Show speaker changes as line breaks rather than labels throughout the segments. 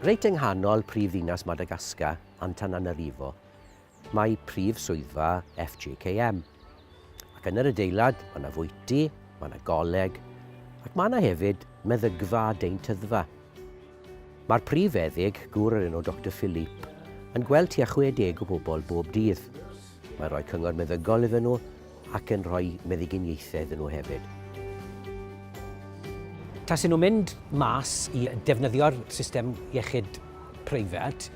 Reit yng nghanol prif ddinas Madagascar, Antananarivo, mae prif swyddfa FJKM. Ac yn yr adeilad, mae yna fwyty, mae yna goleg, ac mae yna hefyd meddygfa a deintyddfa. Mae'r prif feddyg, gŵr o'r enw Doctor Philippe, yn gweld tua 60 o bobl bob dydd. Mae'n rhoi cyngor meddygol iddyn nhw ac yn rhoi meddyginiaethau iddyn nhw hefyd.
Tasen nhw'n mynd mas i defnyddio'r system iechyd preifat,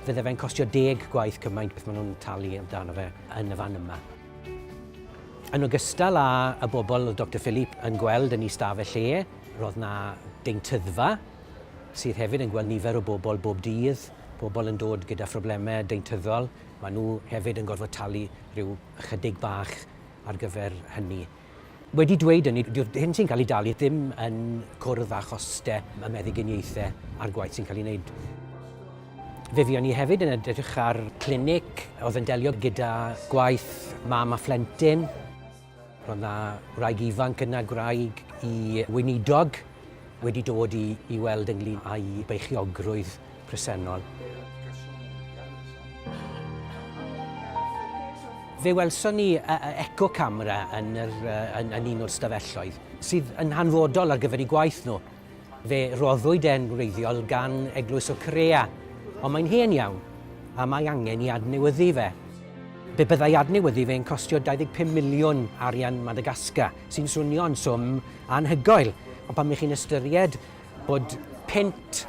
Fydde fe'n costio deg gwaith cymaint beth maen nhw'n talu amdano fe yn y fan yma. Yn ogystal â y bobl oedd Doctor Philippe yn gweld yn ei staf e lle, roedd na deintyddfa sydd hefyd yn gweld nifer o bobl bob dydd, pobl yn dod gyda phroblemau deintyddol, maen nhw hefyd yn gorfod talu rhyw ychydig bach ar gyfer hynny. Wedi dweud hynny, dyw'r hyn sy'n cael ei dalu ddim yn cwrdd â chostau y meddyginiaethau a'r gwaith sy'n cael ei wneud. Fe fuon ni hefyd yn edrych ar clinic oedd yn delio gyda gwaith mam a phlentyn. Roedd yna wraig ifanc yna, gwraig i weinidog, wedi dod i weld ynglŷn â'i beichiogrwydd. presennol. Fe welson ni eco camera yn, yr, yn, yn un o'r stafelloedd sydd yn hanfodol ar gyfer eu gwaith nhw. Fe roddwyd e'n wreiddiol gan Eglwys o Corea, ond mae'n hen iawn a mae angen i adnewyddu fe. Be byddai adnewyddu fe'n costio 25 miliwn arian Madagascar, sy'n swnio'n swm anhygoel, ond pan ych chi'n ystyried Bod punt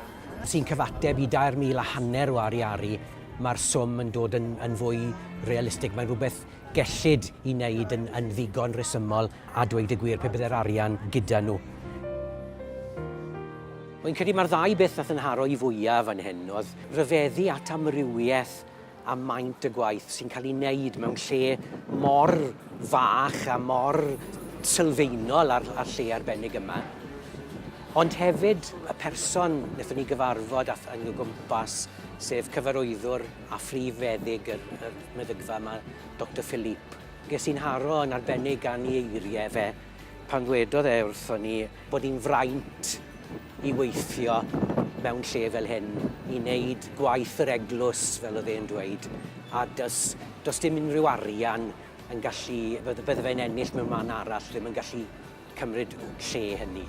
sy'n cyfateb i dair mil a hanner o ariaru, mae'r swm yn dod yn, yn fwy realistig. Mae'n rhywbeth gellid i wneud yn, yn ddigon rhesymol a dweud y gwir pe bydde'r arian gyda nhw. Fi'n credu mae'r ddau beth nath yn haro i fwyaf fan hyn oedd rhyfeddu at amrywiaeth a maint y gwaith sy'n cael ei wneud mewn lle mor fach a mor sylfaenol ar, ar lle arbennig yma. Ond hefyd y person wnaethon ni gyfarfod a yn y gwmpas, sef cyfarwyddwr a phrif feddyg y, y meddygfa yma, Dr Philippe. Ges i'n haro yn arbennig gan ei eiriau fe pan ddwedodd e wrthon ni bod hi'n fraint i weithio mewn lle fel hyn, i wneud gwaith yr eglwys, fel oedd e'n dweud, a does, does dim unrhyw arian yn gallu, bydde, bydde fe'n ennill mewn man arall, ddim yn gallu cymryd lle hynny.